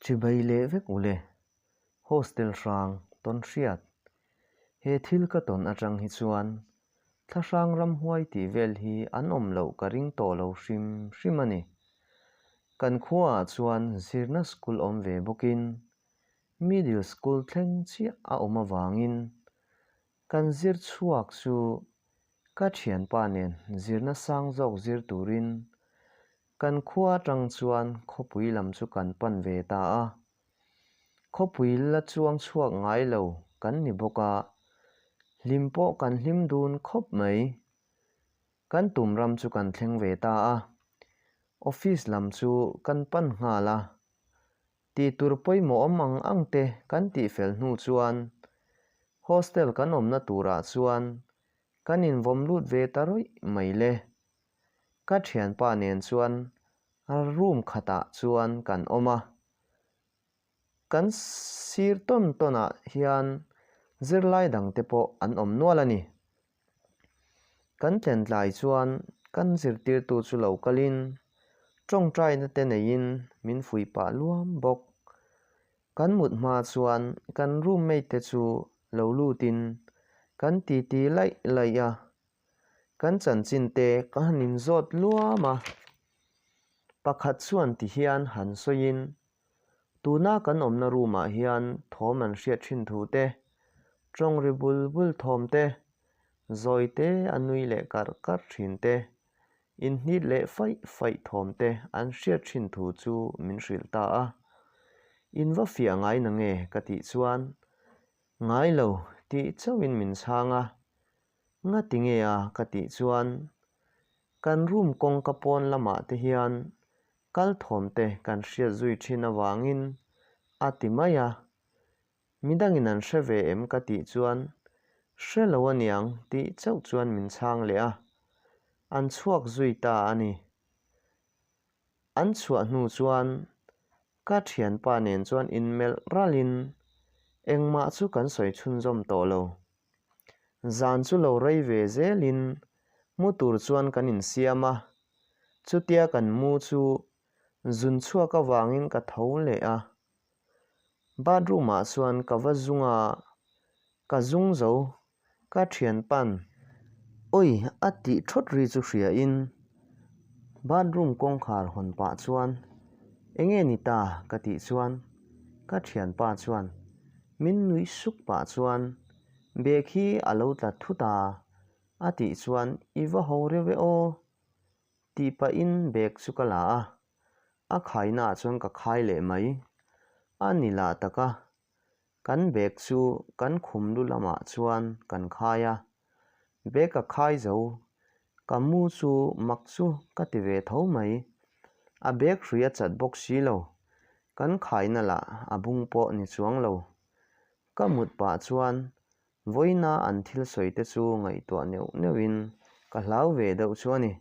Chibai leh vek u le, Hostel hrang tawn hriat. He thil ka tawn atang hi chuan Thlahrang ramhuai tih vel hi an awm loh ka ring tawh lo hrim hrim a ni. Kan khuaah chuan zirna school awm ve bawkin middle school thleng chiah a awm avangin Kan zir chhuak chu ka thianpa nen zirna sang zawk zir turin kan khua atang chuan khawpui lam chu kan pan ve ta a. Khawpui la chuang chhuak ngai lo kan ni bawk a, hlim pawh kan hlim dun khawp mai. Kan tum ram chu kan thleng ve ta a, office lam chu kan pan nghal a, Tih tur pawimawh awm ang ang te kan tih fel hnu chuan hostel kan awmna turah chuan kan invawm lut ve ta rawih mai le. Ka thianpa nen chuan room khatah chuan kan awm a, kan sir tawn tawnah hian zirlai dangte pawh an awm nual a ni. Kan tlentlai chuan kan zirtirtu chu lo kalin tawngtainate neiin min fuih pah luam bawk. Kan mut hma chuan kan roommate te chu lo lutin kan titi laih laih a, kan chanchin te ka han inzawt luam a, pakhat chuan ti hian han sawiin Tuna kan awmna room-ah hian thawm an hriat thin thu te, tawng ri bul bul thawm te, zawite a nui leh karh karh thin te, inhnit leh faih faih thawm te an hriat thin thu chu min hrilh ta a. In va fiah ngai na nge ka tih chuan, Ngai lo tih chauhin min chhang a. Nga ti nge a ka tih chuan, Kan room kawngka pawn lamah te hian Kal thawmte kan hriat zui thin avangin a ti mai a, Midangin an hre ve em ka tih chuan, Hre lo a niang tih chauh chuan min chhang leh a, an chhuak zui ta a ni. An chhuah hnu chuan ka thianpa nen chuan inmelh ralhin, Engmah chu kan sawi chhunzawm tawh lo, Zan chu lo rei ve zelin mu tur chuan kan insiam a, chutia kan mu chu zun chhuak avangin ka tho leh a. Bathroom-ah chuan ka va zung a, ka zung zo, ka thian pan, Ui! a tih thawt ri chu hriain Bathroom kawngkhar hawn pah chuan, Enge ni ta? ka tih chuan ka thianpa chuan min nuih suk pah chuan, Bag hi a lo tla thu ta, a tih chuan i va ho riau e aw. Tih pahin bag chu ka la a, a khaina ah chuan ka khai leh mai. A ni lah taka Kan bag chu kan khum lu lamah chuan kan khai a, bag a khai zo, ka mu chu mak chu ka ti ve tho mai. A bag hrui a chat bawk si lo, kan khaina lah a bung pawh ni chuang lo. Ka mut pah chuan vawina an thil sawi te chu ngaihtuah neuh neuhin ka hlau ve deuh chu a ni.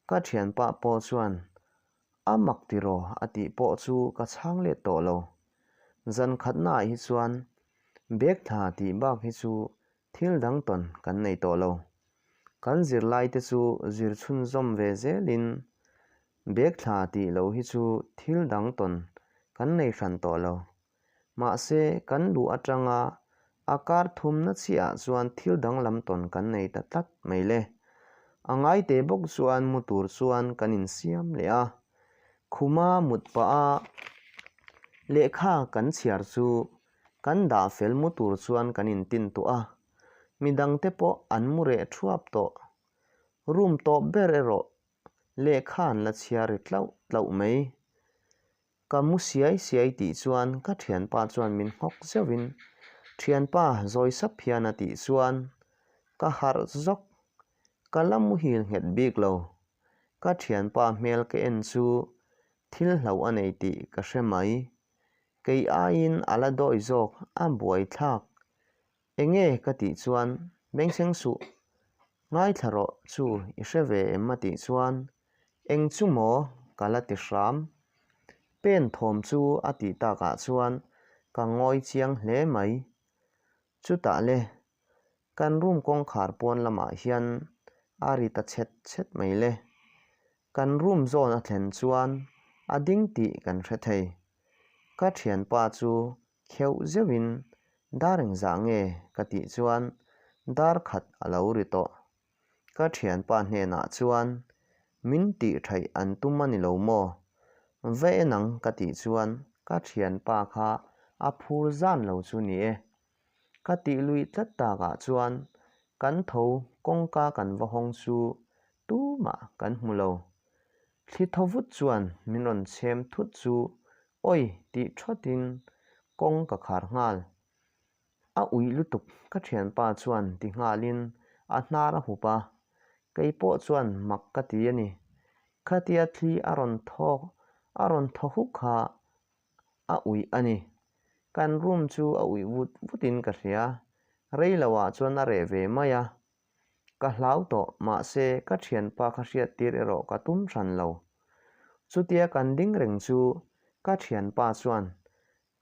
Ka thianpa pawh chuan, A mak tiraw a tih pawh chu ka chhang let tawh lo. Zan khatnaah hi chuan bag thla tih bak hi chu thil dang tawn kan nei tawh lo. Kan zirlaite chu zir chhunzawm ve zelin bag thla tih lo hi chu thil dang tawn kan nei hran tawh lo Mahse, kan luh atanga a kar thumna chiahah chuan thil danglam tawn kan nei ta tlat mai le. A ngaite bawk chuan mu tur chuan kan insiam leh a. Khuma mut paha lehkha kan chhiar chu kan dah fel mu tur chuan kan intin tawh a. Midang te pawh an mu reh thuap tawh. Room tawp ber erawh lehkha an la chhiar ri tlauh tlauh mai. Ka mu siai siai tih chuan ka thianpa chuan min nghawk zeuhin thianpa zawi sap hian a tih chuan ka harh zawk. Ka la muhil nghet bik lo. Ka thianpa hmel ka en chu thil hlo a nei tih ka hre mai. Kei aiin a la dawi zawk a buai thlak. Enge ka tih chuan Mengseng suh, ngaithla rawh chu i hre ve em a tih chuan Eng chu maw? ka la ti hram. Pen thawm chu a tih tak ah chuan ka ngawi chiang hle mai. Chutah le, kan room kawngkhar puan lamah hian a ri ta chhet chhet mai le. Kan room zawn a thlen chuan a ding tih kan hre thei. Ka thianpa chu Kheuh zeuhin, Dar eng zah nge? ka tih chuan dar khat a lo ri tawh. Ka thianpa hnenah chuan, Min tih thaih an tum a ni lo maw? Va en ang ka tih chuan ka thianpa kha a phur zan lo chu ni e. Ka tih luih tlat takah chuan kan tho kawngka kan va hawng chu tumah kan hmu lo. Thli tho vut chuan min rawn chhem thut chu awi tih thatin kawng ka khar nghal. A ui lutuk ka thianpa chuan ti nghalin a hnar a hup a, kei pawh chuan mak ka ti a ni. Khatia thli a rawn tho a rawn tho hu kha a ui a ni. Kan room chu a ui vut vutin ka hria, rei lo ah chuan a reh ve mai a, Ka hlau tawh, mahse ka thianpa kha hriat tir erawh ka tum hran lo. Chutia kan ding reng chu ka thianpa chuan,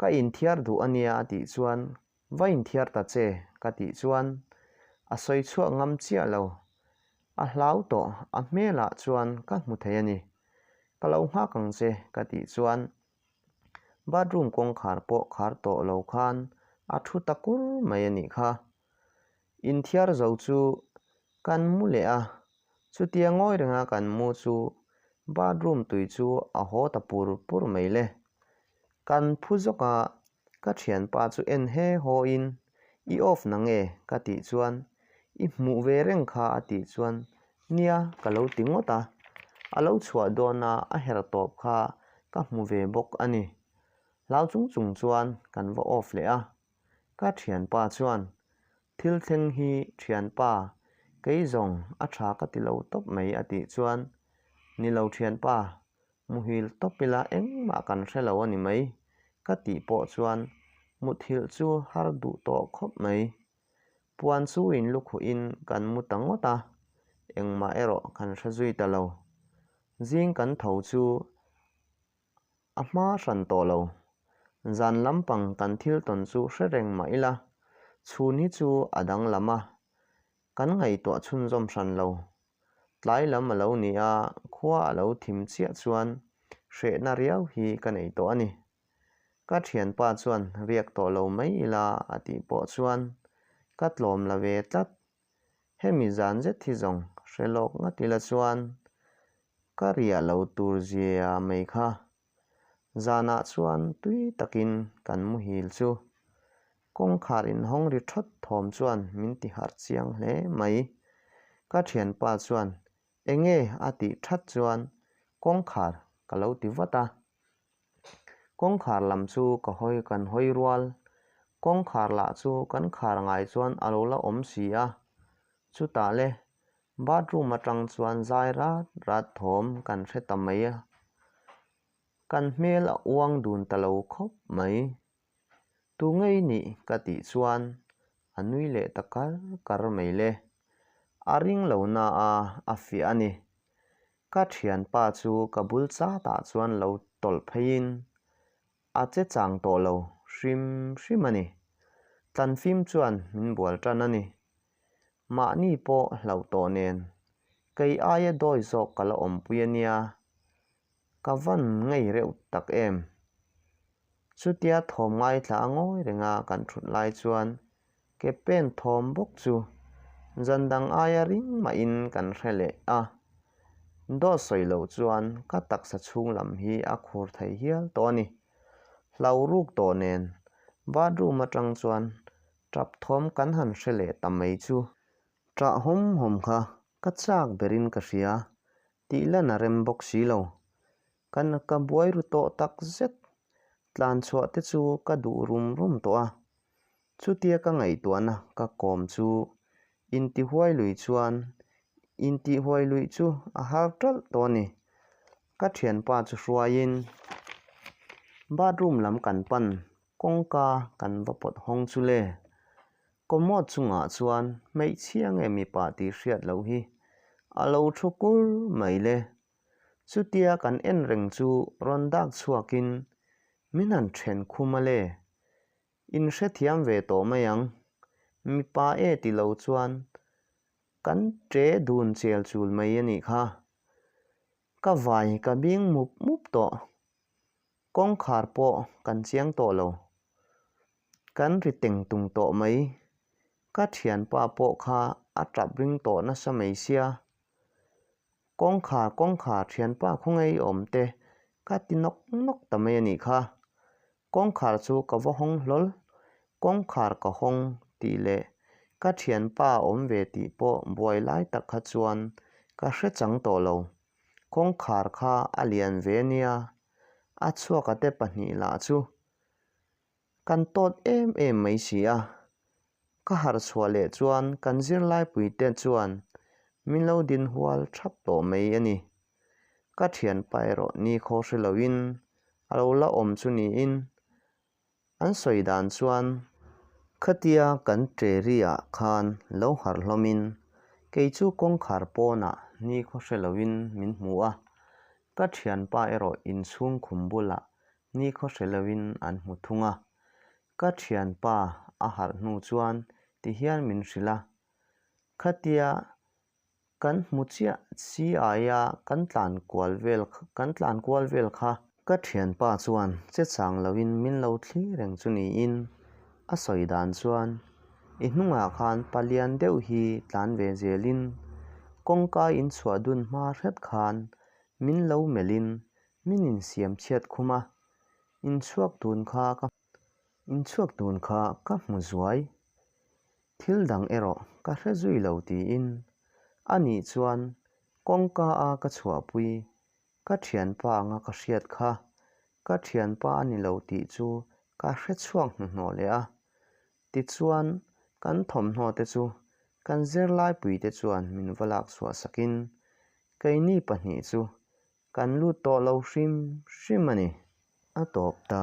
Ka inthiar duh a nia a tih chuan, Va inthiar ta che ka tih chuan a sawi chhuak ngam chiah lo. A hlau tawh, a hmelah chuan ka hmu thei a ni. Ka lo nghak ang che ka tih chuan bathroom kawngkhar pawh khar tawh lo khan a thu ta kur mai a nih kha. Inthiar zo chu kan mu leh a, chutia ngawi renga kan mu chu bathroom tui chu a haw ta pur pur mai le. Kan phu zawka ka thianpa chu en he haw in, I off na nge ka tih chuan i hmuh ve reng kha a tih chuan nia ka lo ti ngawt a, a lo chhuah dawn a a her tawp kha ka hmu ve bawk a ni. Hlau chung chung chuan kan va off leh a. ka thianpa chuan thil thleng hi thianpa kei zawng a tha ka ti lo tawp mai a tih chuan ni lo thianpa muhil tawp ila engmah kan hre lo a ni mai ka tih pawh chuan muthilh chu har duh tawh khawp mai puan chu in lukhuh in kan mu ta ngawt a engmah erawh kan hre zui ta lo zing kan tho chu A hma hran tawh lo. Zan lampang kan thil tawn chu hre reng mah ila, chhun hi chu a danglam a, kan ngaihtuah chhunzawm hran lo. Tlai lam a lo ni a, khua a lo thim chiah chuan hrehna riau hi ka nei tawh a ni. Ka thianpa chuan riak tawh lo mai ila a tih pawh chuan ka tlawm la ve tlat. Hemi zan zet hi zawng hre lawk ngat ila chuan ka riah lo tur zia mai kha. Zanah chuan tui takin kan muhil chu kawngkhar inhawng ri thawt thawm chuan min ti harh chiang hle mai. Ka thianpa chuan Enge? a tih that chuan kawngkhar ka lo ti vat a. Kawngkhar lam chu ka hawi kan hawi rual. Kawngkhar lah chu kan khar ngai chuan a lo la awm si a. Chutah le, bathroom atang chuan zai rat rat thawm kan hre ta mai a. Kan hmel a uang dun ta lo khawp mai. Tu nge i nih ka tih chuan a nui leh ta kar kar mai le. A ring lo na a a fiah a ni. Ka thianpa chu ka bul chat ah chuan lo tawlh phei in a che chang tawh lo hrim hrim a ni. Tlanfim chuan min bual tan a ni. Mahni pawh hlauh tawh nen kei aia dawi zawk ka la awmpui a nia, ka van ngei reuh tak em. Chutia thawm ngai thla a ngawi renga kan ṭhut lai chuan ke pen thawm bawk chu zan dang aia ring mahin kan hre leh a. Daw sawi lo chuan ka taksa chhung lam hi a khur thei hial tawh a ni. Hlauh ruk tawh nen bathroom atang chuan Tap thawm kan han hre leh ta mai chu. Tah hawm hawm kha ka chak berin ka hria tih lan a rem bawk si lo. Ka na ka buai ru tawh tak zet. Tlan chhuah te chu ka duh rum rum tawh a. Chutia ka ngaihtuahna ka kawm chu intihuai lui chuan intihuai luih chu a har talh tawh a ni. Ka thianpa chu hruaiin bathroom lam kan pan. Kawngka kan va pawt hawng chu le? Commode chungah chuan hmeichhia nge mipa tih hriat loh hi a lo thu kur mai le? Chutia kan en reng chu rawn dak chhuakin min han then khum a le? In hrethiam ve tawh mai ang. Mipa e ti lo chuan kan ṭe dun chel chul mai a nih kha. Ka vai ka bing mup mup tawh. Kawngkhar pawh kan chiang tawh lo. Kan ri teng tung tawh mai. Ka thianpa pawh kha a tap ring tawh nasa mai sia. Kawngkhar kawngkhar thianpa khawngei awm te ka ti nawk nawk ta mai a nih kha. Kawngkhar chu ka va hawng hlawl. Kawngkhar ka hawng tih leh ka thianpa awm ve tih pawh buai lai tak kha chuan ka hrechang tawh lo. Kawngkhar kha a lian ve nia, a chhuakate pahnih lah chu kan tawt em em mai si a. Ka harh chhuah leh chuan kan zirlaipuite chuan min lo din hual thap tawh mai a ni. Ka thianpa erawh ni kho hre loin a lo la awm chu niin An sawi dan chuan, Khatia kan Teriah khan lo harh hlawmin kei chu kawngkhar pawnah nikhaw hre loin min hmu a, ka thianpa erawh inchhung khum bulah nikhaw hre loin an hmu thung a, ka thianpa a harh hnu chuan tihian min hrilh a, khatia Kan hmu chiah si ai a, kan tlan kual vel kan tlan kual vel kha. Ka thianpa chuan che chang loin min lo thli reng chu niin a sawi dan chuan i hnungah khan pa lian deuh hi tlan ve zelin kawngka in chhuah dun hma hret khan min lo melhin min insiam chhiat khum a, inchhuak tun kha ka inchhuak tun kha ka hmu zuai Thil dang erawh ka hre zui lo tiin a nih chuan kawngka a ka chhuahpui, ka thianpa anga ka hriat kha, ka thianpa a ni lo tih chu ka hre chhuak hnuhnawh leh a. Tichuan, kan thawmhnaw te chu kan zirlaipui te chuan min va lak chhuah sakin, keini pahnih chu kan lut tawh lo hrim hrim a ni. A tawp ta.